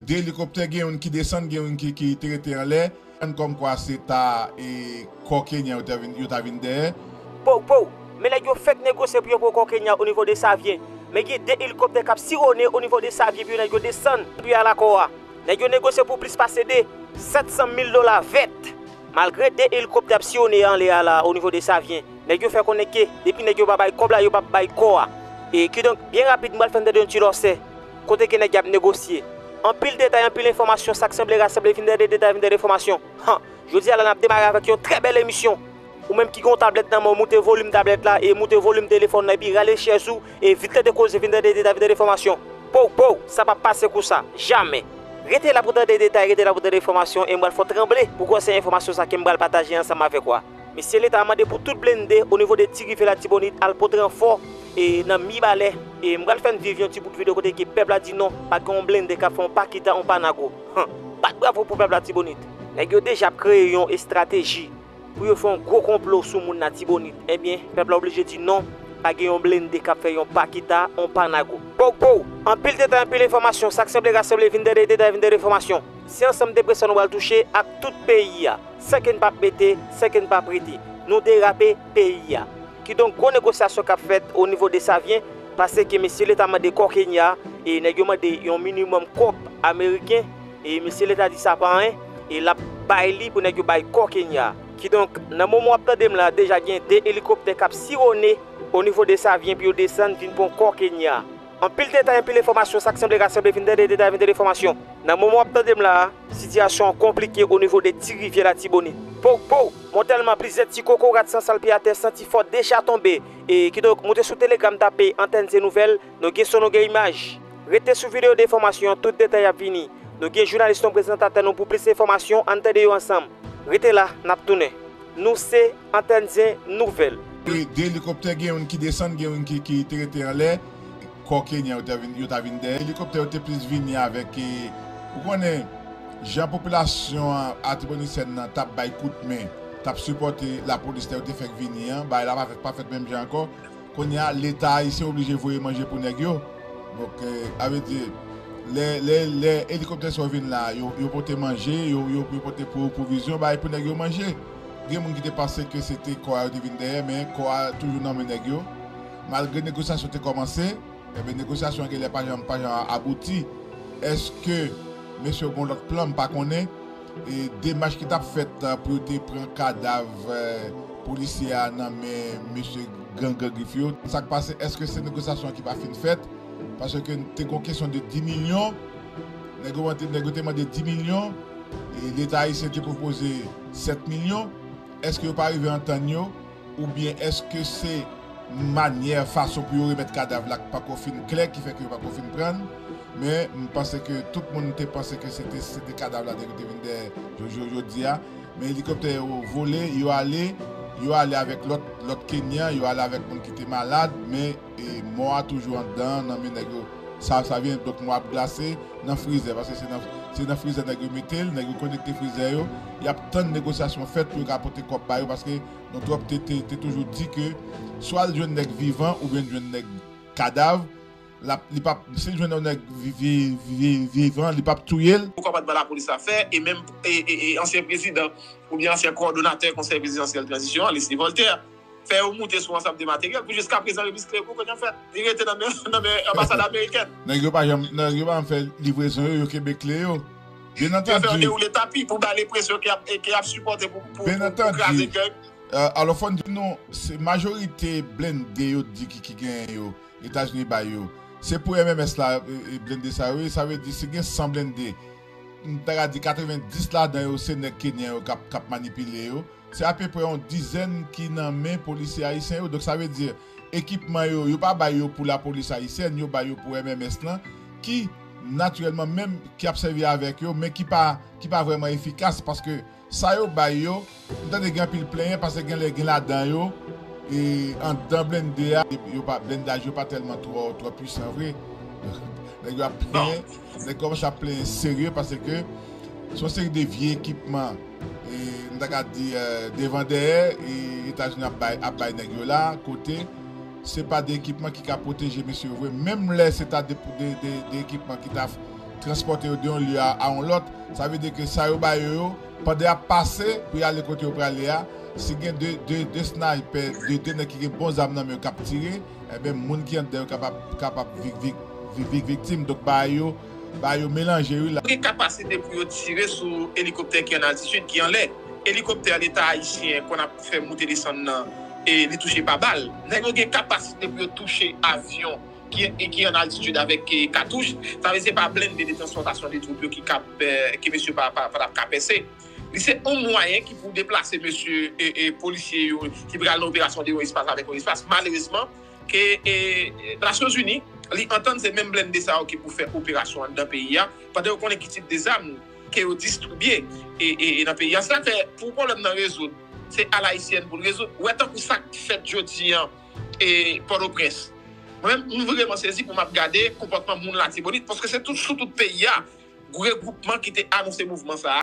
2 elikoptè gen youn ki desann gen youn ki te rete anlè an kòmkwa se ta e kò kenyan yo ta vin dèyè. Pow pow! Men nèg yo fèk negosye pou yo pran kò kenyan onivo Desavyen. Men gen 2 elikoptè kap sirone onivo Desavyen pou yo nèg yo desann pou yo al a kò a. Nèg yo negosye pou plis pase 2. 700 mil dola vèt! Malgre 2 elikoptè ap siyone anlè a la onivo Desavyen, nèg yo fè konnen ke depi nèg yo pa bay kòb la yo pap bay kò a. E kidonk byen rapid m pral fè n tande youn ti lòsè. Kote gen nèg yap negosye. Anpil detay anpil enfòmasyon sak sanble rasanble vin tande detay vin tande enfòmasyon han jodi a la nap demare avèk yon trè bèl emisyon ou menm ki gen yon tablèt nan menw moute volim tablèt la e moute volim telefòn nan epi rale chèz ou e vin tande koze vin tande detay vin tande enfòmasyon pouw pouw sa pap pase kou sa jamè rete la pou tande detay rete la pou tande enfòmasyon e m pral fè w tranble pou gwòsè enfòmasyon sa kem pral pataje ansanm avèk ou a. Mesye leta mande pou tout blende o nivo de ti rivyè latibonit al pote ranfò e nan mibalè e m pral fèn viv yon ti bout video kote ke pèp la di non pa gen yon blende kap fè yon pa kita yon pa nago han bat bravo pou pèp latibonit. Nèg yo deja ap kreye yon estrateji pou yo fè yon gwo konplo sou moun latibonit ebyen pèp la oblije di non pa gen yon blende kap fè yon pa kita yon pa nago. Pow pow! Anpil detay anpil enfòmasyon sak sanble rasanble vin dèdèy detay vin dèdèy enfòmasyon se ansanm depresyon nou pral touche ak tout peyi a. San ke n pa p mete, san ke n pa p rete. Nou derape peyi a. Kidonk gwo negosyasyon k ap fèt o nivo Desavyen, pase ke mesye leta mande kò Kenya, e nèg yo mande yon minimòm kòb ameriken, e mesye leta di sa pa anyen, e l ap bay li pou nèg yo bay kò Kenya. Kidonk, nan moman w ap tande m la, deja gen 2 elikoptè k ap sirone o nivo Desavyen pou yo desann vin pran kò Kenya. Anpil detay anpil enfòmasyon sak sanble rak sanble vin tande detay vin tande enfòmasyon nan moman wap tandem la sitiyasyon an konplike onivo de ti rivyè latibonit pow pow montèlman plizyè ti kokorat san sal pye atè santi fò deja tonbe e kidonk moute sou telegram tape antèn se nouvèl nou gen son nou gen imaj rete sou video de enfòmasyon tout detay ap vini nou gen jounalis nou prezantatè nou pou plis enfòmasyon ann tande yo ansanm rete la nap tounen nou se. Antann zen nouvèl. De elikoptè gen youn ki desann gen youn ki te rete anlè kò kenyan yo ta vin yo ta vin dèyè elikoptè yo te plis vini avèk ou konnen jan popilasyon an atibonitsen nan tap bay kout men tap sipòte lapolis lè yo te fèk vini an bagay la pa fèt menm jan ankò kounye a leta ayisyen oblije voye manje pou nèg yo donk a vle di lè lè lè elikoptè sa yo vin la yo pote manje yo pote pwovizyon bagay pou nèg yo manje. Gen moun ki te panse ke se te kò a yo te vin dèyè men kò a toujou nan men nèg yo. Malgre negosyasyon te kòmanse, enben negosyasyon an genlè pa janm pa janm abouti. Eske mesye yo gen yon lòt plan? M pa konnen. E demach ki t ap fèt pou yo te pran kadav polisye a nan men mesye gang Gran Grif yo, sa k pase? Eske se negosyasyon an ki pa fin fèt? Paske te gen yon kesyon de 10 milyon. Nèg yo te mande 10 milyon e Leta ayisyen te pwopoze. 7 milyon? Eske yo pa rive antann yo oubyen eske se manyè, fason pou yo remèt kadav la k pako fin klè ki fè ke yo pako fin pran l? Men, m panse ke tout moun te panse ke se te se te kadav la dèke te vin dèyè Jojo jodi a. Men elikoptè yo vole, yo ale, yo ale avèk lòt lòt Kenyan, yo ale avèk moun ki te malad, men. E mò a toujou andan nan men nèg yo sa sa vyen donk mò ap glase nan frizè paske se nan se nan frizè nèg yo mete l nèg yo konekte frizè yo y ap tann negosyasyon fèt pou yo ka pote kòb ba yo paske nou twòp te te te toujou di ke swa l jwenn nèg vivan oubyen l jwenn nèg kadav l ap li p ap si l jwenn yon nèg vi vi vivan li p ap touye l. Poukò pa t ban lapolis la fè e menm e e e ansyen prezidan oubyen ansyen kowòdonatè konsèy prezidansyèl tranzisyon an Lesly Voltaire. fè yo moute sou ansanm de materyèl pou jiska prezan remis Clerco konn yon fèt li rete nan men anbasad amerikèn. Nèg yo pa janm nèg yo pa janm fè livrezon yo, yo kenbe kle yo. Byen antandi. Yo fè yo dewoule tapi pou bay lenpresyon ke y ap sipòte pou kraze gang. Alò fò n di nou se majorite blende yo di ki genyen yo Etazini bay yo se pou MMS la blende sa yo ye sa vle di si gen 100 blende m ta ka di 90 ladan yo se nèg kenyan yo k ap manipile yo. Se apeprè yon dizèn ki nan men polisye ayisyen yo. Donk sa vle di ekipman yo, yo pa bay yo pou lapolis ayisyèn, yo bay yo pou MMS lan ki natirèlman menm ki ap sèvi avèk yo men ki pa ki pa vrèman efikas paske sa yo bay yo m tande gen anpil plenyen pase gen lè gen ladan yo e anndan blennde a yo pa blennndaj yo pa tèlman twò twò pwisan vre nèg yo ap plenyen. Nèg kòmanse ap plenyen serye paske se yon seri de vye ekipman nou ta ka di devan dèyè Etazini ap bay nèg yo la kote se pa de ekipman ki ka pwoteje mesye yo vre menm lè se ta de ekipman ki ta transpòte yo de yon lye a yon lòt sa vle di ke sa yo ba yo yo pandan y ap pase pou y ale kote yo prale a si gen de snaypè de nèg ki gen bon zam nan men yo k ap tire. Enben moun ki andan yo kapab kapab vik vik vik vik viktim donk bagay yo bagay yo melanje wi la. Yo gen kapasite pou yo tire sou elikoptè ki an altitid, ki anlè. Elikoptè leta ayisyen konn ap fè moute desann nan e li touche pa bal. Nèg yo gen kapasite pou yo touche avyon ki ki an altitid avèk katouch. Sa vle di se pa blende de transpòtasyon de twoup yo ki kab ke mesye pa tap ka pèse. Li se yon mwayen ki pou deplase mesye polisye yo ki pral nan operasyon de yon espas avèk yon espas. Malerezman, ke Nasyonzini li antann se menm blende sa yo ki pou fè operasyon anndan peyi a, pandan yo konnen ki tip de zam ke yo distribye nan peyi a. Sa fè pou pwoblèm nan rezoud, se alayisyèn pou l rezoud. Ou wè tankou sa k fèt jodi an Pòtoprens. Mwen menm m vreman sezi pou m ap gade konpòtman moun Latibonit, paske se sou tout peyi a Regwoupman ki te anonse mouvman sa a.